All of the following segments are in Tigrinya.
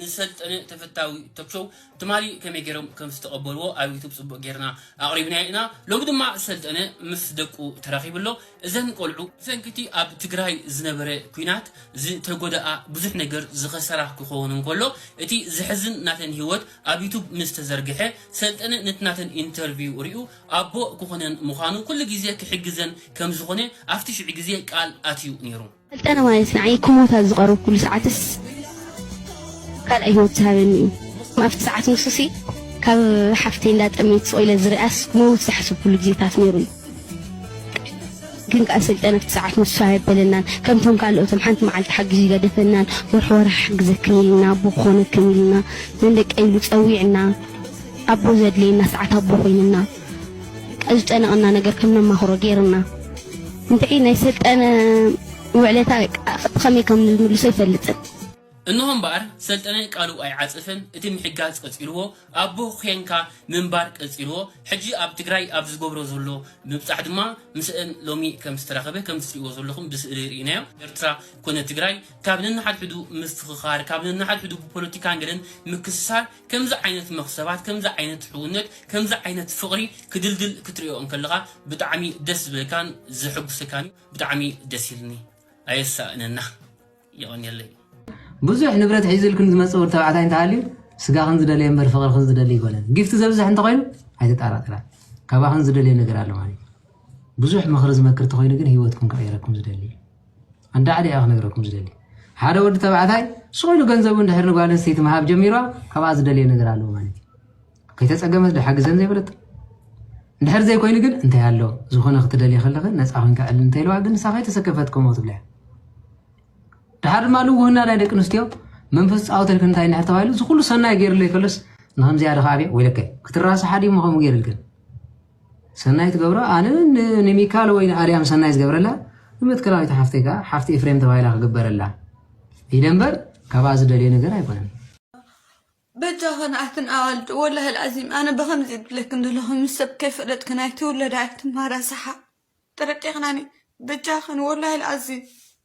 ንሰልጠነ ተፈታዊ ቶክ ሾው ትማሊ ከመይ ገይሮም ከም ዝተቐበልዎ ኣብ ዩቱብ ጽቡቕ ጌርና ኣቕሪብናዮ ኢና። ሎሚ ድማ ሰልጠነ ምስ ደቁ ተራኺቡ ኣሎ። እዘን ቆልዑ ብሰንኪ'ቲ ኣብ ትግራይ ዝነበረ ኲናት ዝተጎድኣ ብዙሕ ነገር ዝኸሰራ ክኾን እንከሎ እቲ ዘሕዝን ናተን ህይወት ኣብ ዩቱብ ምስ ተዘርግሐ ሰልጠነ ነቲ ናተን ኢንተርቪው ሪኡ ኣቦ ክኾነን ምዃኑ ኩሉ ግዜ ክሕግዘን ከም ዝኾነ ኣብቲ ሽዑ ግዜ ቃል ኣትዩ ነይሩ። ስልጠና ማለት ንዓይ ክሞት ኣብ ዝቐረብኩሉ ሰዓትስ ካልኣይ ህይወት ዝሃበኒ እዩ። ኣብቲ ሰዓት ንሱሲ ካብ ሓፍተይ እንዳጠመየት ስቕ ኢለ ዝሪኣስ ክመውት ዝሓሰብኩሉ ግዜታት ነይሩ እዩ። ግን ከኣ ሰልጠነ ኣብቲ ሰዓት ንሱ ኣየበለናን። ከምቶም ካልኦቶም ሓንቲ መዓልቲ ሓግዙ ይገደፈናን ወርሒ ወርሒ ክሕግዘክን ኢልና ኣቦ ክኾነክን ኢልና ነንደቀይ ኢሉ ጸዊዕና ኣቦ ዘድልየና ሰዓት ኣቦ ኮይንና። ዝጨነቐና ነገር ከም ነማኽሮ ገይሩና እንድዒ ናይ ሰልጠነ ውዕለታ ከመይ ከም ንምልሶ ኣይፈልጥን እንሆ እምበኣር ሰልጠነ ቃሉ ኣይዓጽፍን እቲ ምሕጋዝ ቀጺልዎ ኣቦ ኼንካ ምንባር ቀጺልዎ ሕጂ ኣብ ትግራይ ኣብ ዝገብሮ ዘሎ ምብጻሕ ድማ ምስእን ሎሚ ከም ዝተራኸበ ከምቲ ትርእይዎ ዘለኹም ብስእሊ ርኢናዮ ኤርትራ ኮነ ትግራይ ካብ ነንሓድሕዱ ምፍኽኻር ካብ ነንሓድሕዱ ብፖለቲካን ገለን ምክስሳር ከምዚ ዓይነት መኽሰባት ከምዚ ዓይነት ሕውነት ከምዚ ዓይነት ፍቕሪ ክድልድል ክትርእዮ እንከለኻ ብጣዕሚ ደስ ዝብለካን ዘሕጉሰካን እዩ ብጣዕሚ ደስ ኢልኒ ኣየሳእነና የቐንየለይ። ብዙሕ ንብረት ሒዙልክን ዝመጽእ ወዲ ተባዕታይ እንተሃልዩ ስጋኽን ዝደለየ እምበር ፍቕርኽን ዝደሊ ኣይኮነን። ጊፍቲ ዘብዝሕ እንተኾይኑ ኣይተጠራጠራ ካባኽን ዝደልዮ ነገር ኣሎ ማለት እዩ። ብዙሕ ምኽሪ ዝመክር ተኾይኑ ግን ህይወትኩም ክቕይረኩም ዝደሊ እዩ። ኣንዳ ዓዲ እያ ክነግረኩም ዝደሊ ሓደ ወዲ ተባዕታይ ስቑኢሉ ገንዘቡ እንድሕር ንጓል ኣንስተይቲ ምሃብ ጀሚሯ ካብኣ ዝደልየ ነገር ኣለዎ ማለት እዩ ከይተፀገመት ድሓግዘን ዘይበለጥ እንድሕር ዘይኮይኑ ግን እንታይ ኣሎ ዝኾነ ክትደልየ ከለኺ ነፃ ኮንካ ዕል እንተኢልዋ ግን ንሳ ከይተሰከፈት ከምኡ ትብላ እያ ድሓር ድማ ልውህና ናይ ደቂ ኣንስትዮ መንፈስ ፃወተልክ እንታይ እንድሕር ተባሂሉ እዚ ኩሉ ሰናይ ገይርለይ ከሎስ ንከምዚኣ ድካ ኣብየ ወይለከ ክትራስሓ ድሞ ከምኡ ገይርልክን ሰናይ ትገብሮ ኣነ ንሚካል ወይ ንኣርያም ሰናይ ዝገብረላ ንመትከላዊት ሓፍተይ ከዓ ሓፍቲ ኤፍሬም ተባሂላ ክግበረላ ኢለ እምበር ካብኣ ዝደልዮ ነገር ኣይኮነን በጃኸ ንኣክን ኣዋልድ ወላሂ ልኣዚም ኣነ ብኸምዚ ዝብለክን ዘለኹ ምስ ሰብ ከይፈለጥክን ኣይትውለዳ ኣይትምሃራ ሰሓ ጥርጢቕናኒ በጃኸን ወላሂ ልኣዚም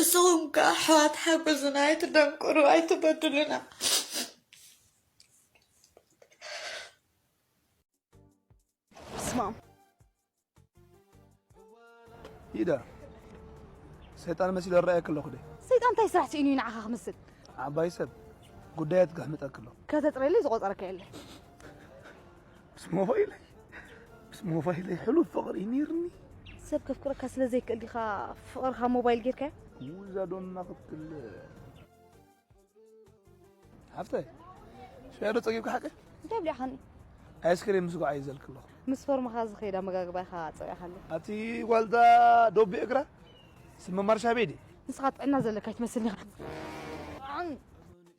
እስኹም ከ ኣሕዋት ሓጉዙና ኣይትደንቁሩ ኣይትበድሉና ስማም ይዳ ሰይጣን መሲሉ እረኣየክ ኣለኹ ደ ሰይጣን እንታይ ስራሕ ስኢኑ እዩ ንዓኻ ክምስል ዓባይ ሰብ ጉዳያት ከሕምጠክ ኣሎ ከተፅረየለይ ዝቆፀረካ የለን ምስ ሞባይለይ ምስ ሞባይለይ ሕሉፍ ፍቕሪ ነይርኒ ሰብ ከፍቅረካ ስለ ዘይክእል ዲኻ ፍቕርኻ ሞባይል ጌርካዮ ውዛ ዶና ክትል ሃፍተይ ሽያዶ ጸጊብካ ሓቂ እንታይ ብሊዕኻኒ ኣይስክሬም ምስ ጓዓይ ዘልክ ኣለኹ ምስ ፈርማኻ ዝኸይድ ኣመጋግባ ኢኻ ጸቂኻ ኣሎ ኣቲ ጓልታ ዶቢ እግራ ስመ ማርሻ ቤዲ ንስኻ ጥዕና ዘለካ ይትመስልኒ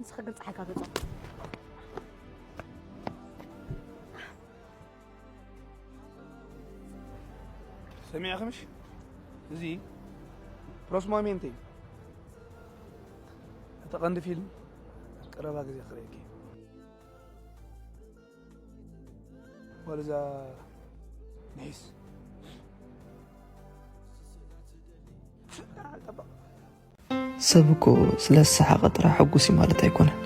ንስኺ ግን ፀሓይ ካብ ገፆም ሰሚዕኽምሽ እዚ ፕሮስማሜንቴ እቲ ቀንዲ ፊልም ኣብ ቀረባ ግዜ ክርእየኪ እዩ። ጓል እዛ ንሒስ ፍቅር ኣልጠበቕ ሰብ እኮ ስለ ዝሰሓቐ ጥራሕ ሕጉስ እዩ ማለት ኣይኮነን።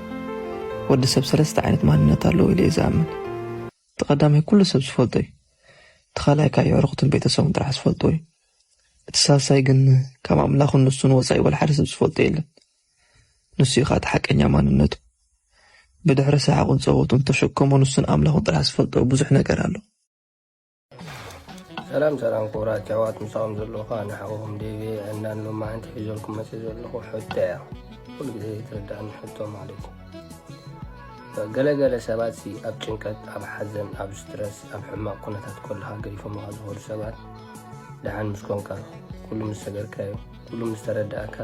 ወዲ ሰብ ሰለስተ ዓይነት ማንነት ኣለዎ ኢለ እየ ዝኣምን። እቲ ቀዳማይ ኩሉ ሰብ ዝፈልጦ እዩ። እቲ ካልኣይ ከኣ የዕሩኽቱን ቤተሰቡን ጥራሕ ዝፈልጥዎ እዩ። እቲ ሳልሳይ ግን ካብ ኣምላኹን ንሱን ወጻኢ ወልሓደ ሰብ ዝፈልጦ የለን። ንሱ እዩ ከኣ እቲ ሓቀኛ ማንነቱ። ብድሕሪ ሰሓቑን ጸወቱን፣ ተሸከሞ ንሱን ኣምላኹን ጥራሕ ዝፈልጦ ብዙሕ ነገር ኣሎ። ሰላም ሰላም ክቡራት ኣሕዋት ምሳኹም ዘለኹ ኣነ ሓውኹም ዴቪ ዕናን ሎማዓንቲ ሒዘልኩም መፅእ ዘለኹ ሕቶ እያ ኩሉ ግዜ ዘይትረዳእኒ ሕቶ ማለት እዩ ገለገለ ሰባት ሲ ኣብ ጭንቀት ኣብ ሓዘን ኣብ ስትረስ ኣብ ሕማቕ ኩነታት ከለካ ገዲፎምካ ዝኸዱ ሰባት ደሓን ምስ ኮንካ ኩሉ ምስ ሰገርካዮ ኩሉ ምስ ተረዳእካ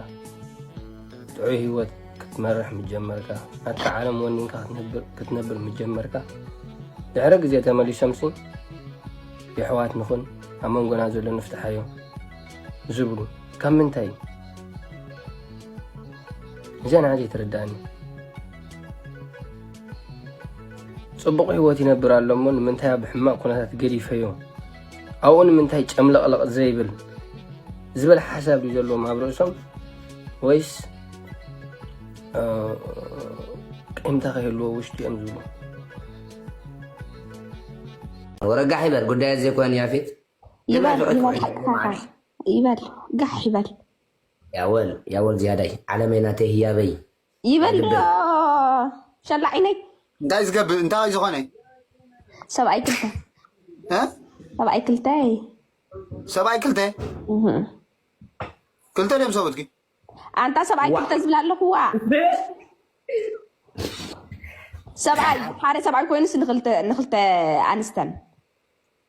ጥዑይ ህይወት ክትመርሕ ምጀመርካ ናትካ ዓለም ወኒንካ ክትነብር ምጀመርካ ድሕሪ ግዜ ተመሊሶምሲ የሕዋት ንኹን ኣብ መንጎና ዘሎ ንፍትሓዮ ዝብሉ ካብ ምንታይ እዩ እዚኣ ንዓ ዘይትርዳእኒ ፅቡቕ ህይወት ይነብር ኣሎ እሞ ንምንታይ ኣብ ሕማቕ ኩነታት ገዲፈዮ ኣብኡ ንምንታይ ጨምለቕለቕ ዘይብል ዝበል ሓሳብ እዩ ዘለዎም ኣብ ርእሶም ወይስ ቂምታ ከይህልዎ ውሽጢ እዮም ዝብሉ ወረጋሕ ይበል ጉዳይ ዘይኮነ ያፌት ይበል ጋሕ ይበል ያወል ያወል ዝያዳይ ዓለመይ ናተይ ህያበይ ይበል ዶ ሸላዒነይ እንታይ እዩ ዝገብር እንታይ እዩ ዝኾነ ሰብኣይ ክልተ እ? ሰብኣይ ክልተ ሰብኣይ ክልተ ክልተ ድዮም ሰብኡትኪ ኣንታ ሰብኣይ ክልተ ዝብላ ኣለኹዋ ሰብኣይ ሓደ ሰብኣይ ኮይኑስ ንክልተ ንክልተ ኣንስተን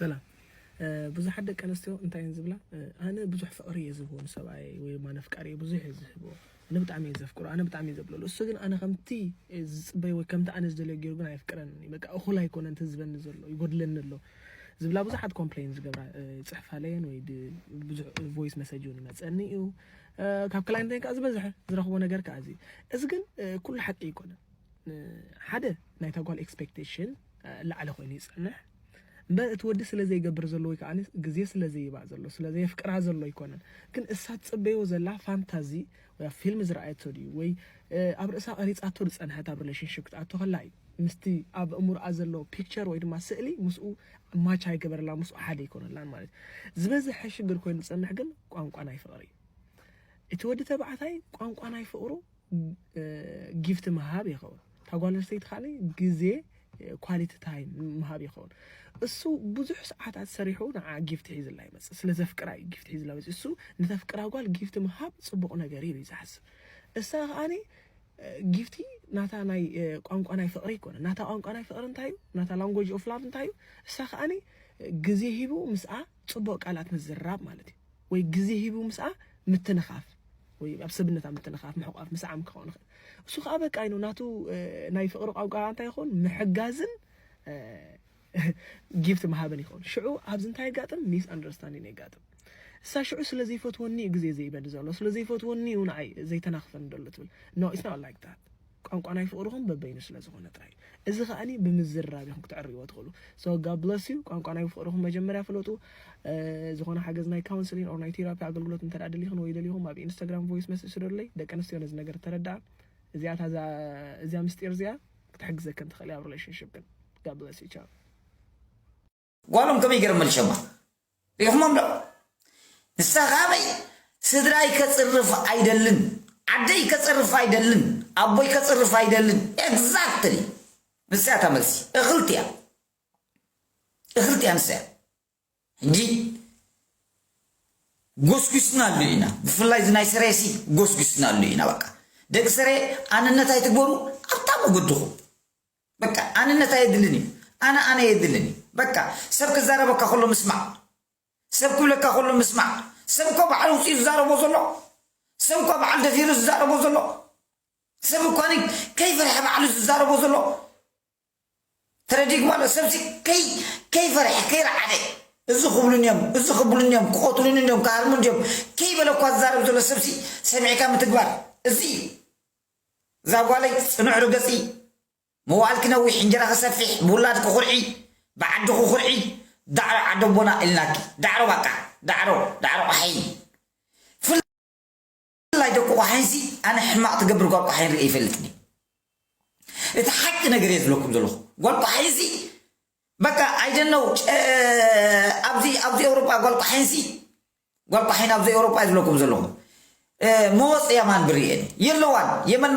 ሰላም ብዙሓት ደቂ ኣንስትዮ እንታይ እየን ዝብላ ኣነ ብዙሕ ፍቅሪ እየ ዝህቦ ንሰብኣየ ወይ ድማ ነፍቃሪ እየ ብዙሕ እየ ዝህቦ ኣነ ብጣዕሚ እየ ዘፍቅሮ ኣነ ብጣዕሚ እየ ዘብለሉ እሱ ግን ኣነ ከምቲ ዝፅበይ ወይ ከምቲ ኣነ ዝደለዮ ገይሩ ግን ኣየፍቅረን እዩ በቃ እኹል ኣይኮነ እንተ ዝበኒ ዘሎ ይጎድለኒ ኣሎ ዝብላ ብዙሓት ኮምፕሌን ዝገብራ ፅሕፋ ለየን ወይ ብዙሕ ቮይስ መሰጅ እውን ይመፀኒ እዩ ካብ ክላይንተይ ከዓ ዝበዝሐ ዝረኽቦ ነገር ከዓ እዚ እዚ ግን ኩሉ ሓቂ ኣይኮነን ሓደ ናይታ ጓል ኤክስፔክቴሽን ላዕሊ ኮይኑ ይጸንሕ እምበር እቲ ወዲ ስለ ዘይገብር ዘሎ ወይ ከዓኒ ግዜ ስለ ዘይባ ዘሎ ስለ ዘየፍቅራ ዘሎ ኣይኮነን ግን እሳ ትጽበዮ ዘላ ፋንታዚ ወይ ኣብ ፊልም ዝረኣየቶ ድዩ ወይ ኣብ ርእሳ ቀሪጻቶ ዝጸንሐት ኣብ ሪሌሽንሽፕ ክትኣቶ ከላ እዩ ምስቲ ኣብ እምሮኣ ዘሎ ፒክቸር ወይ ድማ ስእሊ ምስኡ ማች ኣይገበረላ ምስኡ ሓደ ኣይኮነላን ማለት እዩ ዝበዝሐ ሽግር ኮይኑ ዝጸንሕ ግን ቋንቋ ናይ ፍቕሪ እዩ እቲ ወዲ ተባዕታይ ቋንቋ ናይ ፍቕሩ ጊፍት ምሃብ ይኸውን እታ ጓል ኣንስተይቲ ካለ ግዜ ኳሊቲ ታይም ምሃብ ይኸውን እሱ ብዙሕ ሰዓታት ሰሪሑ ንዓ ጊፍት ሒዝላ ይመፅእ ስለ ዘፍቅራ እዩ ጊፍት ሒዝላ መፅእ እሱ ንተፍቅራ ጓል ጊፍት ምሃብ ፅቡቕ ነገር እዩ ዝሓስብ እሳ ከዓኒ ጊፍቲ ናታ ናይ ቋንቋ ናይ ፍቕሪ ይኮነ ናታ ቋንቋ ናይ ፍቕሪ እንታይ እዩ ናታ ላንጎጅ ኦፍ ላቭ እንታይ እዩ እሳ ከዓኒ ግዜ ሂቡ ምስኣ ፅቡቕ ቃላት ምዝራብ ማለት እዩ ወይ ግዜ ሂቡ ምስኣ ምትንኻፍ ወይ ኣብ ሰብነት ኣብ ምትንኻፍ ምሕቋፍ ምስዓም ክኸውን ይኽእል እሱ ከዓ በቃ ይኑ ናቱ ናይ ፍቕሪ ቋንቋ እንታይ ይኸውን ምሕጋዝን ጊፍት ምሃብን ይኸውን ሽዑ ኣብዚ እንታይ የጋጥም ሚስ ኣንደርስታንዲን የጋጥም እሳ ሽዑ ስለ ዘይፈትወኒ እዩ ግዜ ዘይበሊ ዘሎ ስለ ዘይፈትወኒ እዩ ንዓይ ዘይተናኽፈኒ ደሎ ትብል ኖ ኢትስ ኖት ላይክ ዳት ቋንቋ ናይ ፍቕርኹም በበይኑ ስለ ዝኾነ ጥራይ እዩ። እዚ ከኣኒ ብምዝርራብ ኢኹም ክትዕርይዎ ትኽእሉ። So God bless you ቋንቋ ናይ ፍቕርኹም መጀመርያ ፍለጡ። ዝኾነ ሓገዝ ናይ ካውንስሊን ኦር ናይ ቴራፒ ኣገልግሎት እንተ ደኣ ደሊኽን ወይ ደሊኹም ኣብ ኢንስታግራም ቮይስ መሴጅ ስደዱለይ። ደቂ ኣንስትዮ ነዚ ነገር ተረድኣ። እዚኣ እታ እዛ እዚኣ ምስጢር እዚኣ ክትሕግዘክን ትኽእል እያ ኣብ ሪሌሽንሽፕክን። God bless you ቻው። ጓሎም ከመይ ገይሮም መልሸማ ሪኢኹሞም ዶ ንሳ ካበይ ስድራይ ከጽርፍ ኣይደልን ዓደይ ከጽርፍ ኣይደልን ኣቦይ ከጽርፍ ኣይደልን ኤግዛክትሊ ንሳ እያ መልሲ እኽልቲ እያ እኽልቲ እያ ንሳ እያ ሕጂ ጎስጒስናሉ ኢና ብፍላይ እዚ ናይ ስሬሲ ጎስጒስናሉ ኢና በቃ ደቂ ስሬ ኣንነት ኣይትግበሩ ኣብታ መገድኹም በቃ ኣንነት ኣየድልን እዩ ኣነ ኣነ የድልን እዩ በቃ ሰብ ክዛረበካ ከሎ ምስማዕ ሰብ ክብለካ ከሎ ምስማዕ ሰብ እኮ በዓል ውፅኡ ዝዛረቦ ዘሎ ሰብ እኳ በዓል ደፊሩ ዝዛረቦ ዘሎ ሰብ እኳ ከይፈርሐ ባዕሉ ዝዛረቦ ዘሎ ተረዲግ ማለት ሰብዚ ከይ ከይፈርሐ ከይረዓደ እዚ ክብሉን እዮም እዚ ክብሉን እዮም ክቆትሉን እዮም ክሃርሙን እዮም ከይበለ እኳ ዝዛረብ ዘሎ ሰብዚ ሰሚዕካ ምትግባር እዚ እዛ ጓለይ ጽኑዕ ርገጺ መዋእልኪ ነዊሕ እንጀራኺ ሰፊሕ ብውላድኪ ኩርዒ ብዓድኺ ኩርዒ ዳዕሮ ዓዲ ኣቦና ኢልናኪ ዳዕሮ ባቃ ዳዕሮ ዳዕሮ ቆሓይን ብፍላይ ደቂ ቆሓይንሲ ኣነ ሕማቅ ትገብር ጓል ቆሓይን ርእየ ይፈልጥኒ እቲ ሓቂ ነገር እየ ዝብለኩም ዘለኹ ጓል ቆሓይንሲ በቃ ኣይደነው ኣብዚ ኣብዚ ኤውሮጳ ጓል ቆሓይንሲ ጓል ቋሒን ኣብዚ ኤውሮጳ እየ ዝብለኩም ዘለኹ መወጽ የማን ብርየን የለዋን የመን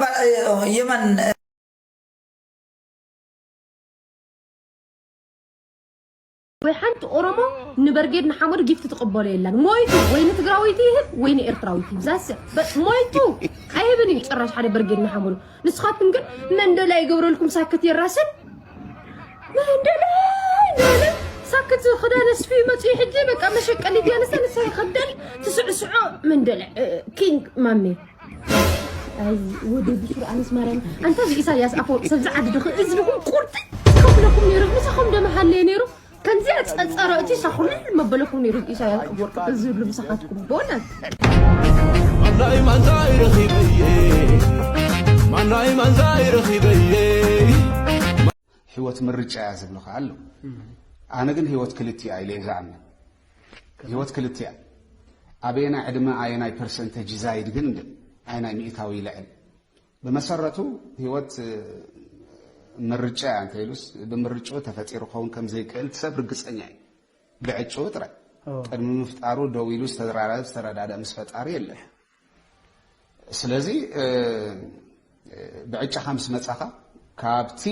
የመን ወይ ሓንቲ ኦሮሞ ንበርጌድ ንሓመዱ ጊፍቲ ትቕበሎ የላን ሞይቱ ወይ ንትግራወይቲ ይህብ ወይ ንኤርትራዊት ይህብ ዛስ ሞይቱ ኣይህብን እዩ ጭራሽ ሓደ በርጌድ ንሓመዱ ንስኻትኩም ግን መንደላይ ይገብረልኩም ሳክት የራስን መንደላይ ንበለ ሳክት ክዳን ኣስፊ መፅኡ ሕጂ በቃ መሸቀሊ ዲያንሰ ንሳ ይኸደል ትስዕስዖ መንደላይ ኪንግ ማሜ ኣይ ወደ ብሱር ኣነስ ማርያም ኣንታ ኢሳያስ ኣፈወርቂ ሰብ ዝዓዲ ድኽ እዝንኹም ቁርጢ ከፍለኩም ነይሩ ምሳኹም ደመሃለየ ነይሩ ከምዚ ኣፀፀረ እቲ ሻኹል መበለ ኮይኑ ይርግ ኢሳያስ ኣፈወርቂ ብዝብሉ ምሳኻትኩም ቦነት ማናይ ማንዛይ ረኺበየ ማናይ ማንዛይ ረኺበየ ህይወት ምርጫ እያ ዝብልኻ ኣሎ ኣነ ግን ህይወት ክልቲኣ ኢለ እየ ዝኣምን ህይወት ክልቲኣ ኣበየናይ ዕድመ ኣየናይ ፐርሰንተጅ ይዛይድ ግን ኣይናይ ሚእታዊ ይልዕል ብመሰረቱ ህይወት ምርጫ እያ እንተይሉስ ብምርጭኡ ተፈጢሩ ክኸውን ከም ዘይክእል እቲ ሰብ ርግጸኛ እዩ። ብዕጭኡ ጥራይ ቅድሚ ምፍጣሩ ደው ኢሉ ዝተዘራረበ ዝተረዳድእ ምስ ፈጣሪ የለን። ስለዚ ብዕጫኻ ምስ መጻኻ ካብቲ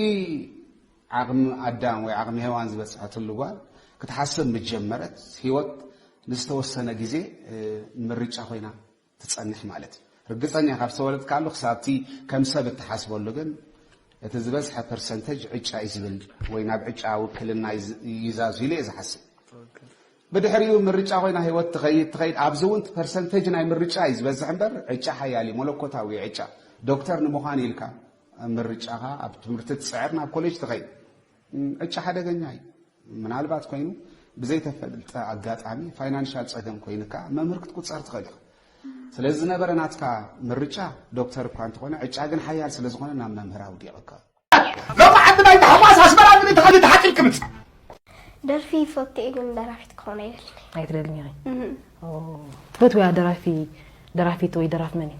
ዓቕሚ ኣዳም ወይ ዓቕሚ ሄዋን ዝበጽሐትሉ ጓል ክትሓስብ ምስ ጀመረት ህይወት ንዝተወሰነ ግዜ ምርጫ ኮይና ትጸንሕ ማለት እዩ። ርግጸኛ ካብ ዝተወለድካሉ ክሳብ'ቲ ከም ሰብ እትሓስበሉ ግን እቲ ዝበዝሐ ፐርሰንተጅ ዕጫ እዩ ዝብል ወይ ናብ ዕጫ ውክልና ይዛዙ ኢለ እየ ዝሓስብ። ብድሕሪኡ ምርጫ ኮይና ህይወት ትኸይድ ትኸይድ ኣብዚ እውን እቲ ፐርሰንተጅ ናይ ምርጫ እዩ ዝበዝሕ እምበር ዕጫ ሓያል እዩ መለኮታዊ እዩ ዕጫ ዶክተር ንምዃን ኢልካ ምርጫኻ ኣብ ትምህርቲ ትጽዕር ናብ ኮሌጅ ትኸይድ ዕጫ ሓደገኛ እዩ። ምናልባት ኮይኑ ብዘይተፈልጠ ኣጋጣሚ ፋይናንሻል ጸገም ኮይንካ መምህር ክትቁጸር ትኽእል ኢኻ ስለዚ ዝነበረ ናትካ ምርጫ ዶክተር እኳ እንተኾነ ዕጫ ግን ሓያል ስለ ዝኾነ ናብ መምህር ኣውዲቕካ ሎሚ ዓዲ ናይ ታሕጓስ ኣስመራ ግን ተኸዲ ተሓቂልኪ ምጽ ደርፊ ይፈቱ እየ ግን ደራፊት ክኾን ኣይደልን ኣይትደልን ኢኺ ትፈትውያ ደራፊ ደራፊት ወይ ደራፍ መን እዩ?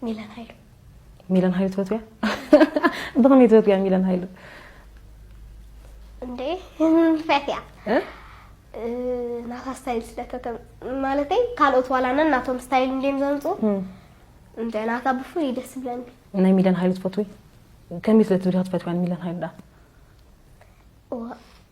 ሚለን ሃይሉ ሚለን ሃይሉ ትፈትውያ? ብኸመይ ትፈትውያ ሚለን ሃይሉ? እንዴ ፈትያ ናታ ስታይል ስለተተ ማለተይ ካልኦት ዋላነን ናቶም ስታይል እንዴም ዘምፁ እንደ ናታ ብፍሉይ ደስ ብለኒ ናይ ሚለን ሃይሉ ትፈትዊ ከመይ ስለ ትብልካ ትፈትውያ ሚለን ሃይሉ ዳ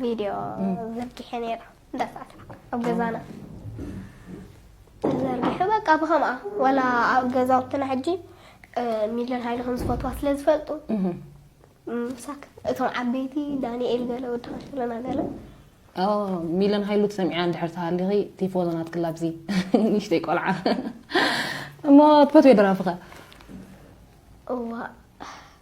ቪድዮ ዘርጊሐ ነይረ እንዳሰኣልኩ ኣብ ገዛና ተዘርጊሑ በቃ ብኸምኣ ዋላ ኣብ ገዛውትና ሕጂ ሚለን ሃይለ ከም ዝፈትዋ ስለ ዝፈልጡ ምሳክ እቶም ዓበይቲ ዳንኤል ገለ ወዲ ከሸለና ገለ ሚለን ሃይሉ ትሰሚዓ እንድሕር ተሃሊኺ ቲፎዞ ናትክላ ኣብዚ ንእሽተይ ቆልዓ እሞ ትፈትዮ ደራፍኸ እዋ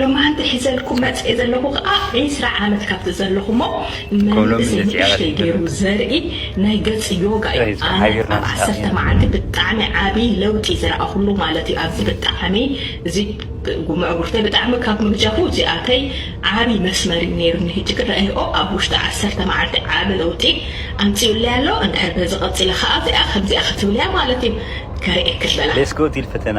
ሎማዓንቲ ሒዘልኩም መፅየ ዘለኹ ከዓ ዒስራ ዓመት ካብቲ ዘለኹሞ መንእሰይ ንእሽተይ ገይሩ ዘርኢ ናይ ገፅ ዮጋ እዩ ኣነ ኣብ ዓሰርተ ማዓልቲ ብጣዕሚ ዓብይ ለውጢ ዝረኣኹሉ ማለት እዩ ኣዚ ብጣዕሚ እዚ ጉምዕጉርተይ ብጣዕሚ ካብ ምግጃፉ እዚኣተይ ዓብይ መስመር እዩ ነይሩኒ ህጂ ክረእይኦ ኣብ ውሽጢ ዓሰርተ ማዓልቲ ዓቢ ለውጢ ኣምፂኡለይ ኣሎ እንድሕር በዚ ቀፂለ ከዓ እዚኣ ከምዚኣ ክትብልያ ማለት እዩ ከርእየኪ ዝበላ። Let's go ዲል ፈተና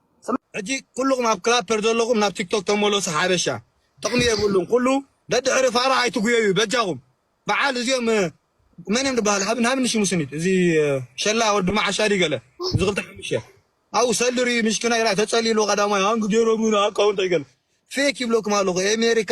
ሕጂ ኩሉኩም ኣብ ክላፐር ዘለኩም ናብ ቲክቶክ ተመለሱ ሓበሻ ጥቅሚ የብሉን ኩሉ ደድሕሪ ፋራ ኣይትጉየዩ በጃኩም በዓል እዚኦም መን እዮም ዝበሃሉ ሃብን ሃብን ሽሙ ስኒት እዚ ሸላ ወዲ መዓሻ ድዩ ገለ እዚ ክልተ ሓሙሽተ ኣብኡ ሰሊ ርዩ ምሽክና ኢላ ተጸሊሉ ቀዳማይ ሃንግ ጀረሙን ኣካውንት ኣይገለ ፌክ ይብለኩም ኣለኹ ኣሜሪካ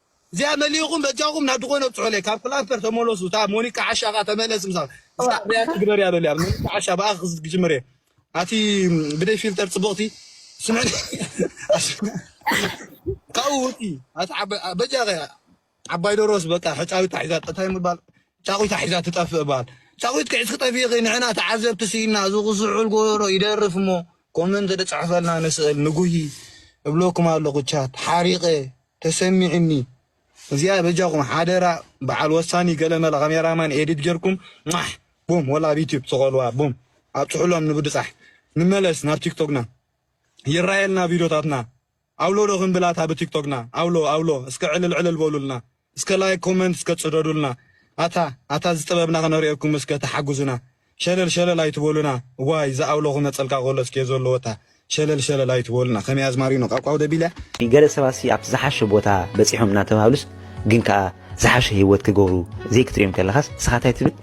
እዚኣ መሊእኹም በጃኹም ናብ ድኾነ ኣብጽሑለይ ካብ ክላምፐር ተመለሱ እታ ሞኒካ ዓሻ ከኣ ተመለስ ምሳ እዛ ሪያክት ግበርያ በልያ ሞኒካ ዓሻ ብኣ ክጅምር እየ ኣቲ ብደይ ፊልተር ጽብቕቲ ስምዕኒ ካብኡ ውጪ ኣቲ በጃኸ ዓባይ ደሮስ በቃ ሕጫዊት ታሒዛ እንታይ ምባል ጫቑታ ሒዛ ትጠፍእ ባል ጫቑት ክዕስ ክጠፍኢኺ ንሕና ተዓዘብቲ ስኢና እዚ ክስዕል ጎደሎ ይደርፍ እሞ ኮመንት ድጽሕፈልና ንስእል ንጉሂ እብለኩም ኣለኹ ቻት ሓሪቐ ተሰሚዕኒ እዚኣ በጃኩም ሓደራ በዓል ወሳኒ ገለመለ ካሜራ ማን ኤዲት ጌርኩም ሟሕ ቡም ወላ ኣብ ዩቱብ ስቀልዋ ቡም ኣብጽሑሎም ንብድጻሕ ንመለስ ናብ ቲክቶክና ይራየልና ቪዶታትና ኣውሎ ዶ ክንብል ኣታ ብቲክቶክና ኣውሎ ኣውሎ እስከ ዕልል ዕልል በሉልና እስከ ላይክ ኮመንት እስከ ጽደዱልና ኣታ ኣታ እዚ ጥበብና ክነርእየኩም እስከ ተሓጉዙና ሸለል ሸለል ኣይትበሉና ዋይ ዝኣውሎ ክመጸልካ ከሎ እስከ ዘለዎታ ሸለል ሸለል ኣይትበሉና ከመይ ኣዝማሪኖ ቃቋው ደቢለ። ገለ ሰባትሲ ኣብቲ ዝሓሸ ቦታ በጺሖም እናተባህሉስ ግን ከኣ ዝሓሸ ሂወት ክገብሩ ዘይክትርእዮም ከለኻስ ንስኻ እንታይ ትብል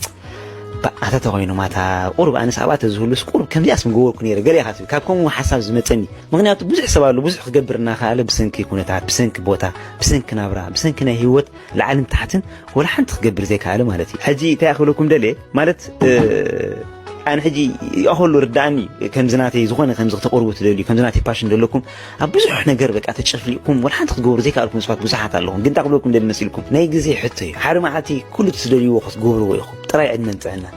ባእ ኣታ ተኾይኖም ኣታ ቁሩብ ኣነስ ኣብኣ ተዝህሉስ ቁሩብ ከምዚኣስ ምገበርኩ ነይረ ገለ ኢኻ ትብል ካብ ከምኡ ሓሳብ ዝመጸኒ ምኽንያቱ ብዙሕ ሰብ ኣሎ ብዙሕ ክገብር እናኸኣለ ብሰንኪ ኩነታት ብሰንኪ ቦታ ብሰንኪ ናብራ ብሰንኪ ናይ ሂወት ላዕልን ታሕትን ወላ ሓንቲ ክገብር ዘይከኣለ ማለት እዩ። ሕጂ እንታይ ክብለኩም ደልየ ማለት ኣነ ሕጂ ይኣኸሉ ርዳእኒ ከምዚ ናተይ ዝኾነ ከምዚ ክተቕርቡ ትደልዩ ከምዚ ናተይ ፓሽን ዘለኩም ኣብ ብዙሕ ነገር በቃ ተጨፍሊቕኩም ወላ ሓንቲ ክትገብሩ ዘይከኣልኩም ስባት ብዙሓት ኣለኹም። ግን እንታይ ክብለኩም ደሊ መሲልኩም ናይ ግዜ ሕቶ እዩ። ሓደ መዓልቲ ኩሉ ትደልይዎ ክትገብርዎ ኢኹም ጥራይ ዕድመን ጥዕናን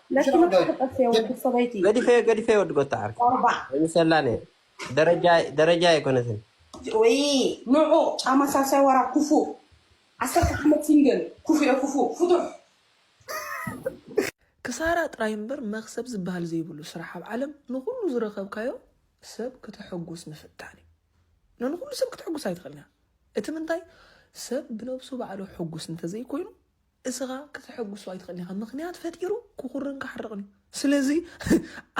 ለኪ መጥፋ ተጠፍየ ወዲ ሰበይቲ ገዲፈዮ ገዲፈዮ ወዲ ጎታ ዓርኪ ቆርባ ምሰላ ነይረ ደረጃ ደረጃ ኣይኮነትን ወይ ንዑ ጫማ ሳልሳይ ወራ ኩፉእ ዓሰርተ ዓመት ሲንግል ኩፉኤ ኩፉእ ፍቱሕ። ክሳራ ጥራይ እምበር መክሰብ ዝብሃል ዘይብሉ ስራሕ ኣብ ዓለም ንኩሉ ዝረከብካዮ ሰብ ክተሕጉስ ምፍታን እዩ ንንኩሉ ሰብ ክትሕጉስ ኣይትክእልን ኢካ እቲ ምንታይ ሰብ ብነብሱ ባዕሉ ሕጉስ እንተዘይኮይኑ እስኻ ክተሐጉሶ ኣይትኽእልን ኢኻ ምኽንያት ፈጢሩ ክኹርን ክሓርቕን እዩ ስለዚ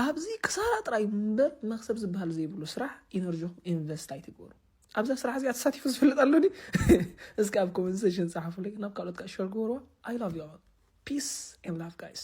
ኣብዚ ክሳራ ጥራይ እምበር መክሰብ ዝበሃል ዘይብሉ ስራሕ ኢነርጂኹም ኢንቨስት ኣይትግበሩ ኣብዛ ስራሕ እዚኣ ተሳቲፉ ዝፈልጥ ኣሎ ዲ እስኪ ኣብ ኮመንት ሴሽን ፀሓፉለይ ናብ ካልኦት ከዓ ሸር ግበርዋ ኣይ ላቭ ዩ ፒስ ኤን ላቭ ጋይስ